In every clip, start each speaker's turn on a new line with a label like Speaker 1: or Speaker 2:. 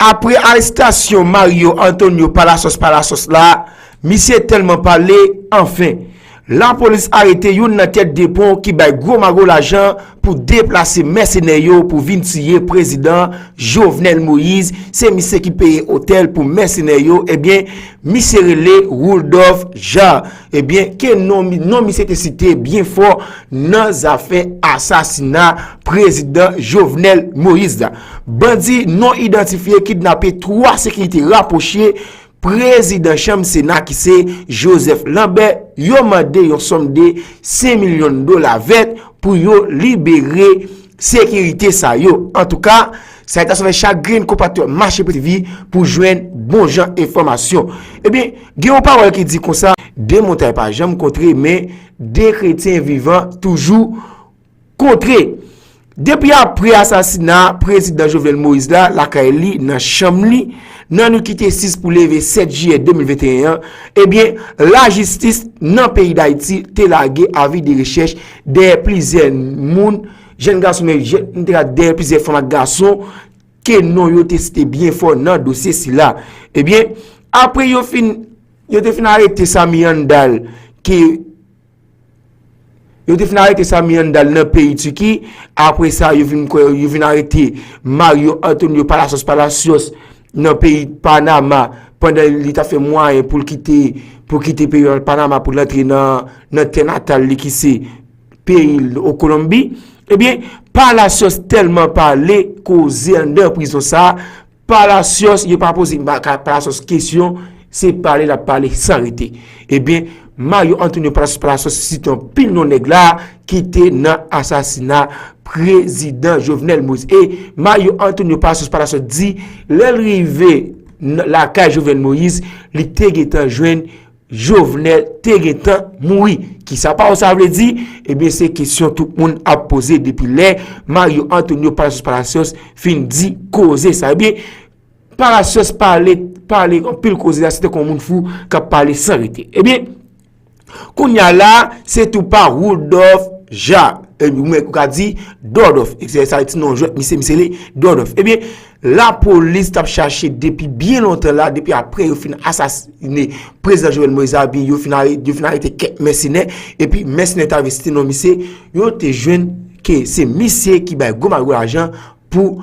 Speaker 1: Apre arestasyon Mario Antonio Palacios Palacios la, misye tèlman pale, anfen! Lapolis arete youn nan tèt de pon ki bay gwo mago lajan pou deplase mèsenè yo pou vin tiye prezidan Jovenel Moise, se misye ki peye otèl pou mèsenè yo, ebyen misye rele Rudolph Jaar. Ebyen ke non mi, non misye te site byen fò nan zafè asasina prezidan Jovenel Moïse la. Bandi non idantifye kidnape 3 sekirite rapwoche prezidan chanm sena ki se Joseph Lambert, yo mande yon sòm de 5 milyon dola vèt pou yo libere. sekirite sa yo. Antouka, sa eta sove chak grenn konpatriyòt mache pete vi pou jwenn bon jan enfòmasyon. Ebyen, gen yon pawòl ki di konsa, de montay pa janm kontre men de kretyen vivan toujou kontre. Depi apre asasina prezidan Jovenel Moïse la lakay li, nan chanm li, nan nou kite 6 pou leve 7 jiyè 2021 an, ebyen, lajistis nan peyi Dayiti te lage avi de rechèch Dèyè plizyè moun, jèn gason men jèn, m te ka di dèyè plizyè fanm ak gason ke non yo te site byen fò nan dosye sila. Ebyen, apre yo fin, yo te fin arete Samy Handal ke, yo te fin arete Samy Handal nan peyi Tiki, apre sa yo vin kwe, yo vin arete Mario Antonio Palacios Palacios. nan peyi Panama pandan li ta fè mwayen pou l kite pou kite peyi Panama pou l antre nan tè natal li ki se peyi l o Kolonbi ebyen Palacios tèlman pale koze anndan prizon sa Palacios yo pa poze Palacios kesyon se pale l ap pale san rete ebyen Mario Antonio Palacios Palacios se site yon pil non nèg la ki te nan asasina prezidan Jovenel Moise. E Mario Antonio Palacios Palacios di lè l rive lakay Jovenel Moise li te gentan jwenn Jovenel te gentan mouri. Kisa pawòl sa vle di? Ebyen se kesyon tout moun ap poze depi lè Mario Antonio Palacios Palacios fin di koze sa. Ebyen. Paraswèz pale, pale anpil koze la se te kon moun fou kap pale san rete. Ebyen, kounya la se tou pa Rudolf Jacques. Ou mwen kou ka di Dòdòf. E se sa li ti non jwèt misye misye li Dòdòf. Ebyen, la polis tap chache depi byen lontan la, depi apre yo fin asasine prezident Jovenel Moïse la, ebyen yo fin arete kèk mèsenè, epi mèsenè ta vin site non misye, yo te jwenn ke se misye ki bay gwo mago lajan pou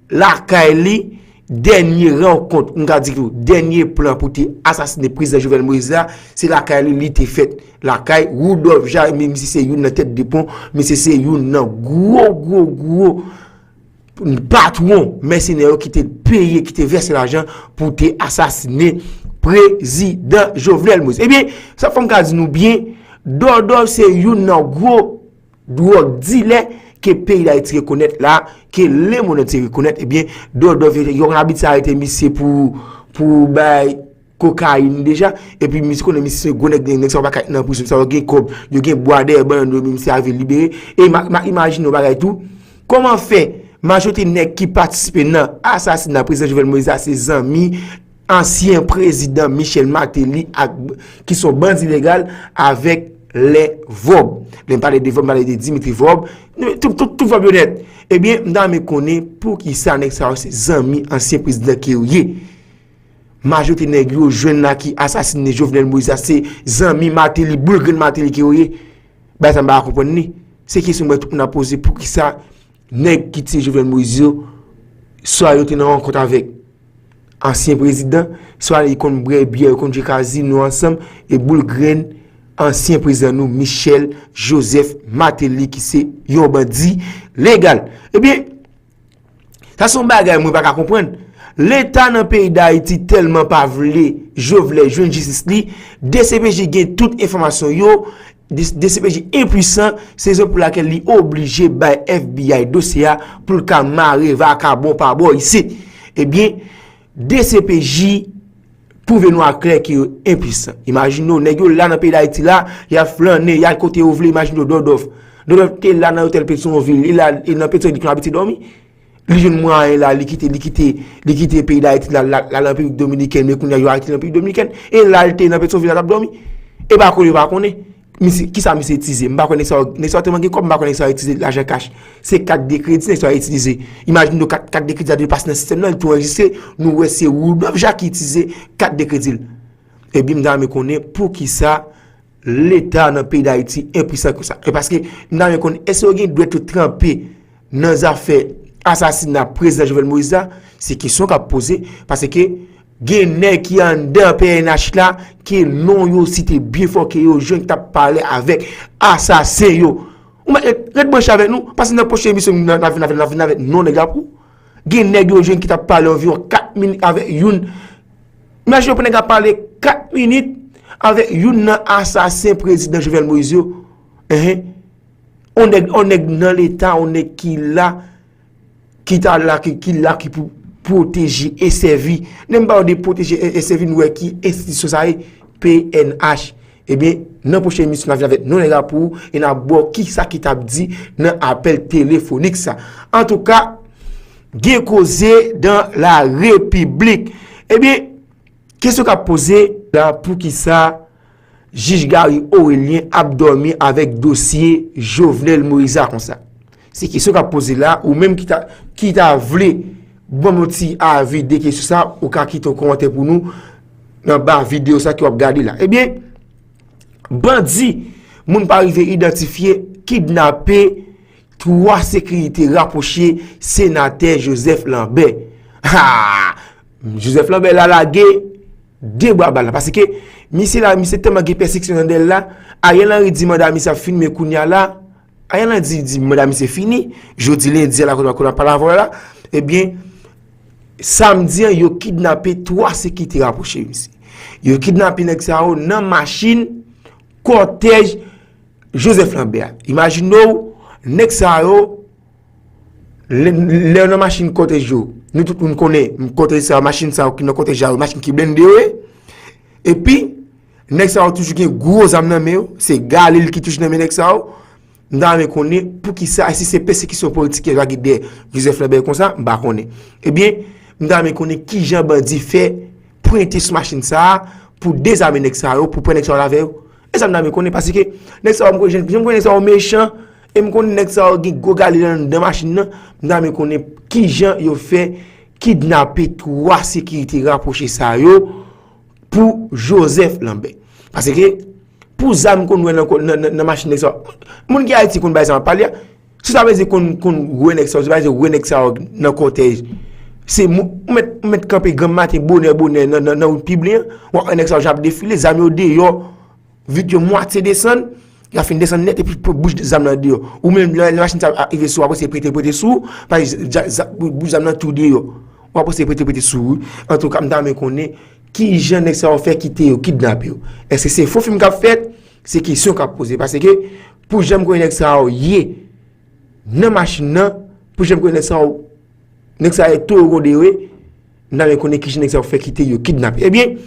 Speaker 1: Lakay li, dènye rankont, m ka di tou, dènye plan pou te asasine Prezidan Jovenel Moïse la, se lakay li li te fèt. Lakay Rudolph Jarry, men misye se youn nan tèt de pon, misye se youn nan gwo, gwo, gwo patwon mèsenè yo ki te peye, ki te vèse lajan pou te asasine Prezidan Jovenel Moïse. Ebyen, sa fòm ka di nou byen, Dòdò se youn nan gwo. Dwòg dilè ke peyi Dayiti rekonèt la, ke lemond antye rekonèt, ebyen, Dodo Viré, yo gen abitid arete misye pou bay kokayin deja, epi misye konnen misye se gwo nèg, nèg sa yo pa ka ret nan prizon, sa yo gen kòb, yo gen bwa dèyè ban nan do yo, men misye a vle libere. E m ap imajine yon bagay tou, kòman fè majorite nèg ki patisipe nan asasina Prezidan Jovenel Moïse la se zanmi, Ansyen prezidan Michel Martelly ak ki son bandi legal avèk lè vòb. Lè m pale de vòb m pale de Dimitri vòb. Tout vòb yo nèt. Ebyen m ta renmen konnen pou ki sa nèg sa yo se zanmi ansyen prezidan ke yo ye. Majote nèg yo jwenn la ki asasine Jovenel Moïse la se zanmi Martelly, boul grenn Martelly ke yo ye. Bagay sa m pa ka konprann ni. Se kesyon m wè tout moun ap poze pou ki sa nèg ki tiye Jovenel Moïse yo swa yo te nan rankont avèk. Ansyen prezidan, swa yo konn bwè byè, yo konn jwe kazino ansanm, e boul grenn ansyen prezidan nou Michel Joseph Martelly ki se yon bandi legal. Ebyen, sa son bagay mwen pa ka konprann. Leta nan peyi Dayiti tèlman pa vle Jovelè jwenn jistis li, dcpj gen tout enfòmasyon yo, Dcpj enpwisan, se rezon pou lakel li oblije bay FBI dosye a pou l ka mare vakabon pa bò isit. Ebyen, dcpj pwouve nou a klè ke yo enpwisan. Imajine w, nèg yo la nan peyi Dayiti la, y ap flannen, y al kote yo vle, imajine w Dòdòf. Dòdòf te la nan otèl Petyonvil, li la nan Petyonvil li konn abitye dòmi. Li jwenn mwayen la, li kite, li kite, li kite peyi Dayiti la, la, l'al nan Repiblik Dominikèn, men kounye a yo arete li nan Repiblik Dominikèn, e la l' te nan Petwovil la t'ap dòmi. E pa konnen yo pa konnen. Misye, kisa misye itize? M' pa konnen nèg sa yo, nèg sa yo tèlman gen kòb m' pa konnen nèg sa yo itize lajan kach. Se kat de kredi nèg sa yo itilize. Imajine w kat, kat de kredi sa dwe pase nan sistèm nan, li tou anrejistre, nou wè se Woodblock Jacques ki itize kat de kredi l'. Ebyen m' ta renmen konnen poukisa. Leta nan peyi Dayiti enpwisan konsa. E paske m ta renmen konnen èske yo gen dwèt yo tranpe nan zafè asasina Prezidan Jovenel Moïse la? Se kesyon k ap poze. Paske gen nèg ki anndan pnh la ke non yo site byen fò ke yo jwenn ki t ap pale avèk asasen yo. Ou mèt ret branche avèk nou paske nan pwochen emisyon n ap vin avèk non nèg la pou ou. Gen nèg yo jwenn ki t ap pale anviwon 4 minit avèk youn. Imaj yo pran ka pale 4 minit avèk youn nan asasen prezidan Jovenel Moïse yo, eeh, on nèg, on nèg nan leta, on nèg ki la, ki ta la, ki la ki pou pwoteje e sèvi, menm pa w de pwoteje e sèvi nou wè ki enstitisyon sa ye, pnh. Ebyen nan pwochen emisyon na vin avèk non nèg la pou ou e na ba w kisa ki tap di nan apèl telefonik sa. Antouka gen koze dan la repiblik. Ebyen kesyon kap poze la poukisa jij Garry Orelien ap dòmi avèk dosye Jovenel Moïse la konsa. Se kesyon kap poze la, ou menm ki ta vle banm yon ti avi de kesyon sa, ou ka kite yon komantè pou nou nan ba video sa ki wap gade la. Ebyen, eh bandi moun pa rive idantifye kidnape 3 sekirite rapwoche senatè Joseph Lambert. Haa! Joseph Lambert la lage 2 bwa bal la. Paseke, misye la, misye tèlman gen pèseksyon nan dèl la, Ariel Henry di manda misye ap fini men kounya la, Ariana di di manda misye fini, jodi lendi ala kote map pale avèw la, ebyen samdi an yo kidnape 3 sekite rapwoche misye. Yo kidnape nèg sa yo nan machin kòtèj Joseph Lambert. Imajine w, nèg sa yo lè yo nan machin kòtèj yo, nou tout moun konnen kòtèj sa yo, machin sa yo ki nan kòtèj la yo, machin ki blende yo ye, epi. Nèg sa yo toujou gen gwo zam nan men yo, se galil ki toujou nan men nèg sa yo, m ta renmen konnen poukisa, si se pèsekisyon politik ki lage dèyè Joseph Lambert konsa, m pa konnen. Ebyen, m ta renmen konnen kijan bandi fè pwente sou machin sa a pou dezame nèg sa yo, pou pran nèg sa yo lave yo? E sa m ta renmen konnen paske nèg sa yo m konnen, jan m konnen nèg sa yo mechan, e m konnen nèg sa yo gen gwo galil anndan machin nan, m ta renmen konnen kijan yo fè kidnape 3 sekirite rapwoche sa yo? pou Joseph Lambert. Pase ke pou zam kon wè nan machin nèg sa yo. Moun ki Ayiti kon bay zam ap pale a. Si sa vle di kon kon wè nèg sa yo, se pa vle di wè nèg sa yo nan kotèj. Se mou, ou mèt, ou mèt kanpe granm maten bonè bonè nan wout piblen an. Wap wè nèg sa yo jan ap defile, zam yo deyò. Vit yo mwatye desann, ya fin desann nèt epi pou bouch zam nan deyò. Ou menm lè machin sa ap rive sou ou, wap eseye prete prete sou ou, paske bouch zam nan tou deyò. Wap eseye prete prete sou ou. Antouka m ta renmen konnen, kijan nèg sa yo fè kite yo kidnape yo? Eske se fo fim kap fèt? Se kesyon kap poze. Paske pou jan m konnen nèg sa yo ye nan machin nan, pou jan m konnen nèg sa yo, nèg sa yo towo gode yo ye, m ta renmen konnen kijan nèg sa yo fè kite yo kidnape. Ebyen!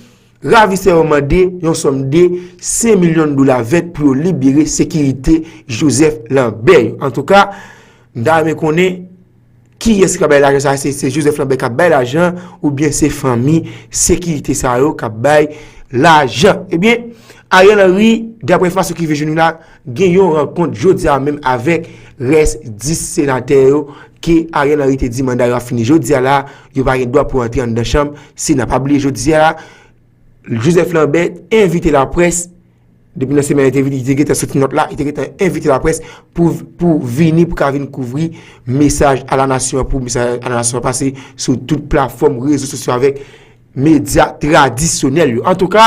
Speaker 1: Ravisè yo mande yon sòm de 5 milyon dola vèt pou yo libere sekirite Joseph Lambert yo. Antouka, m ta renmen konnen kiyès ki pral bay lajan sa a? Se Joseph Lambert k ap bay lajan oubyen se fanmi sekirite sa yo k ap bay lajan? Ebyen, Ariel Henry, daprè enfòmasyon ki rive jwenn nou la, Gen yon rankont jodi a menm avèk rès 10 senatè yo ke Ariel Henry te di manda yo ap fini jodi a la, yo pa gen dwa pou antre anndan chanm sena. Pa bliye jodi a, Joseph Lambert envite laprès, depi nan semèn li te gentan soti nòt la, li te gentan envite laprès pou vini pou ka vin kouvri mesaj a la nasyon an pou mesaj a la nasyon an pase sou tout platfòm rezo sosyo avèk medya tradisyonèl yo. Antouka,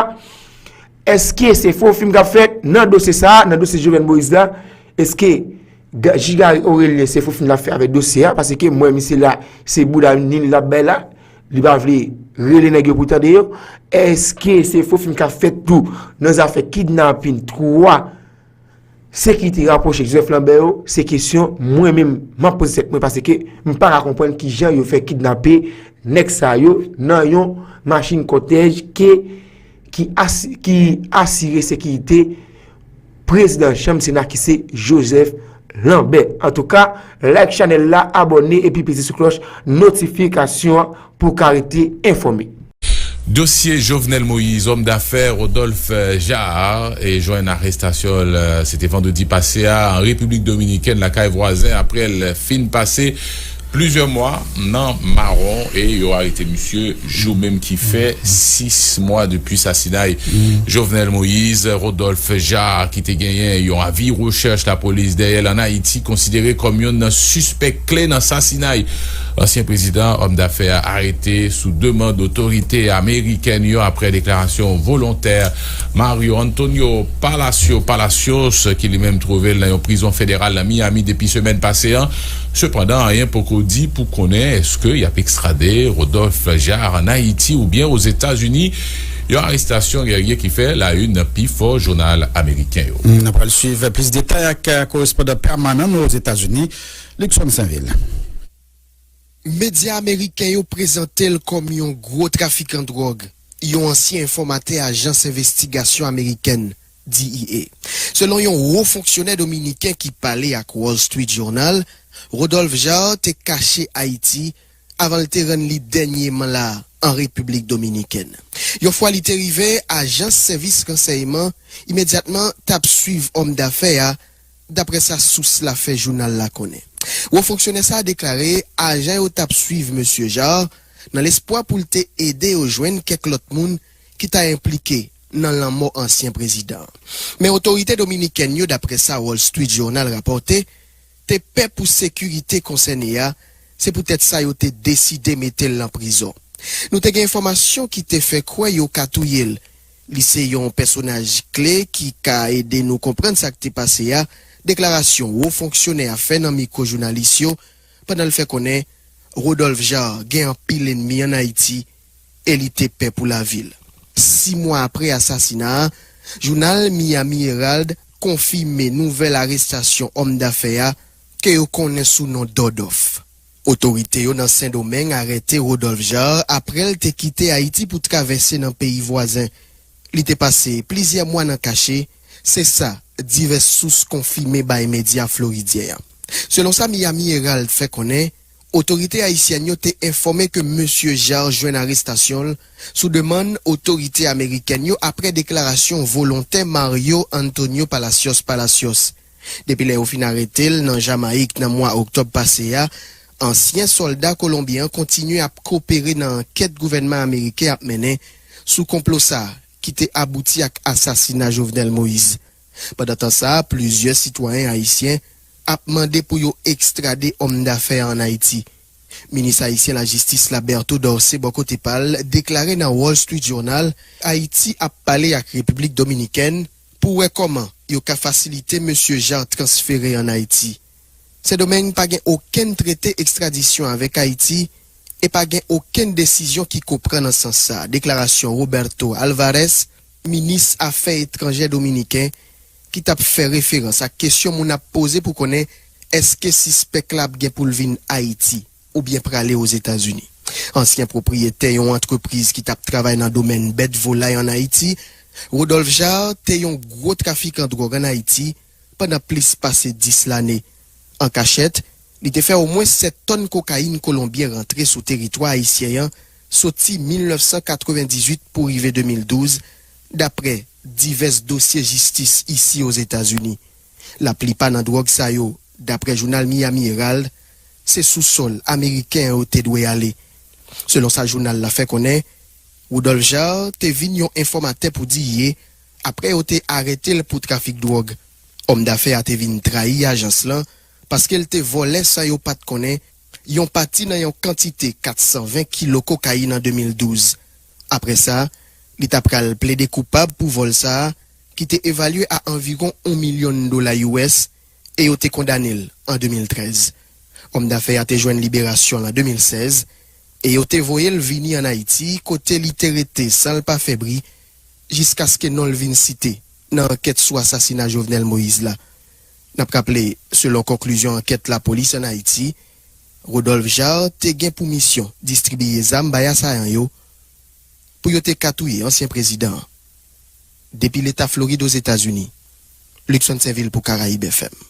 Speaker 1: eske se fo fim k ap fèt nan dosye sa a, nan dosye Jovenel Moïse la? Eske Jij Garry Orélien se fo fim l ap fè avèk dosye a? Paske m wè misye la, se bouda Nini l ap bay la. Li pa vle rele nèg yo pou tande yo. Eske se fo fim k ap fèt tou nan zafè kidnapin 3? Se ki te rapwoche Joseph Lambert yo, se kesyon mwen menm map poze tèt mwen paske m pa ka konprann kijan yo fè kidnape nèg sa yo nan yon machin kòtèj ke ki ki asire sekirite prezidan chanm sena ki se Joseph Lambert. Antouka like chanèl la, abòne epi peze sou klòch notifikasyon an pou w ka rete enfòme. Dosye
Speaker 2: Jovenel Moïse, òm dafè Rodolphe Jaar e jwenn arestasyon l, se te vandredi pase a an Repiblik Dominikèn lakay vwazen aprè l fin pase plizyè mwa nan mawon e yo arete misye jou menm ki fè 6 mwa depi sasinay Jovenel Moïse. Rodolphe Jaar ki te genyen yon avi rechèch lapolis dèyè l an Ayiti konsidere kòm youn nan sispèk kle nan sasinay Ansyen prezidan an, òm dafè a arete sou demand otorite amerikèn yo apre deklarasyon volontè Mario Antonio Palacio Palacios ki li menm twouve l nan yon prizon federal nan Miami depi semèn pase an. Sepandan anyen poko di pou konnen eske y ap ekstrade Rodolphe Jaar an Ayiti oubyen Ozetazini, yon arestasyon Guerrier ki fè la une nan pi fò jounal ameriken yo. N pral swiv
Speaker 3: plis detay ak korespondan pèmanan nou Ozetazini, Luckson Sainvil.
Speaker 4: Medya ameriken yo prezante l kòm yon gwo trafikan dwòg, yon ansyen enfòmatè ajans envestigasyon amerikèn, DEA. Selon yon wo fonksyonè dominiken ki pale ak Wall Street Journal, Rodolphe Jaar te kache Ayiti avan l te rann li dènyeman la an Repiblik Dominikèn. Yon fwa li te rive, ajans sèvis ransèyman imedyatman t ap swiv òm dafè a daprè sa sous la fè jounal la konnen. Wo fonksyonè sa a deklare ajan yo tap swiv Mesye Jaar nan lespwa pou l te ede yo jwenn kèk lòt moun ki ta enplike nan lanmò ansyen prezidan an. Men otorite dominikèn yo daprè sa Wall Street Journal rapòte te pè pou sekirite konsène a, se poutèt sa yo te deside mete l nan prizon. Nou te gen enfòmasyon ki te fè kwè yo ka touye l. Li se yon pèsonaj kle ki ka ede nou konprann sa k te pase a, deklarasyon wo fonksyonè a fè nan mikwo jounalis yo pandan l fè konnen Rodolphe Jaar gen anpil enmi an Ayiti e li te pè pou lavi l. Si mwa apre asasina a, jounal Miami Herald konfime nouvèl arestasyon òm dafè a ke yo konnen sou non Dòdòf. Otorite yo nan Sendomeng arete Rodolphe Jaar apre l te kite Ayiti pou travèse nan peyi vwazen. Li te pase plizyè mwa nan kache, se sa divès sous konfime bay medya floridyen an. Selon sa Miami Herald fè konnen, otorite ayisyèn yo te enfòme ke Mesye Jaar jwenn arestasyon l sou demann otorite amerikèn yo apre deklarasyon volontè Mario Antonio Palacios Palacios, Depi lè yo fin arete l nan Jamayik nan mwa oktòb pase a, ansyen sòlda kolonbyen an kontinye ap kopere nan ankèt gouvènman ameriken ap mennen sou konplo sa ki te abouti ak asasina Jovenel Moïse. Pandan tan sa, plizyè sitwayen ayisyen ap mande pou yo ekstrade òm dafè a ann Ayiti. Minis ayisyen lajistis la Berto Dorcé bò kote pa l deklare nan Wall Street Journal Ayiti ap pale ak Repiblik Dominikèn, pou wè kòman yo ka fasilite mesye Jaar transfere an Ayiti. Sendomeng pa gen okenn trete ekstradisyon avèk Ayiti e pa gen okenn desizyon ki ko pran nan sans sa, deklarasyon Roberto Alvarez, minis afè etranjè dominiken, ki t ap fè referans ak kesyon moun ap poze pou konnen èske sispèk la ap gen pou l vin Ayiti. oubyen prale Ozetazini. Ansyen pwopriyetè yon antrepriz ki t ap travay nan domèn bèt volay ann Ayiti, Rodolphe Jaar te yon gwo trafikan dwòg ann Ayiti pandan plis pase 10 lane. An kachèt, li te fè omwen 7 tòn kokayin kolonbyen rantre sou teritwa ayisyen an soti 1998 pou rive 2012, daprè divès dosye jistis isi Ozetazini. Laplipa nan dwòg sa yo Daprè jounal Miami Herald, se sou sòl ameriken an yo te dwe ale. Selon sa jounal la fè konnen, Rudolph Jaar te vin yon enfòmatè pou Diye aprè yo te arete l pou trafik dwòg. Òmdafè a te vin trayi ajans lan paske l te vòlè san yo pa t konnen yon pati nan yon kantite 420 kilo kokayin an 2012. Aprè sa, li ta pral plede koupab pou vòl sa a ki te evalye a anviwon on milyon dola US. e yo te kondane l an 2013. Òmdafè a te jwenn liberasyon l an 2016 e yo te voye l vini ann Ayiti kote li te rete san l pa fè bri jiskaske non l vin site nan ankèt sou asasina Jovenel Moïse la. N ap raple, selon konklizyon ankèt lapolis ann Ayiti, Rodolphe Jaar te gen pou misyon distribiye zam bay asayan yo pou yo te ka touye ansyen prezidan an. Depi Leta Florid Ozetazini, Luckson Sainvil pou Caraibes FM.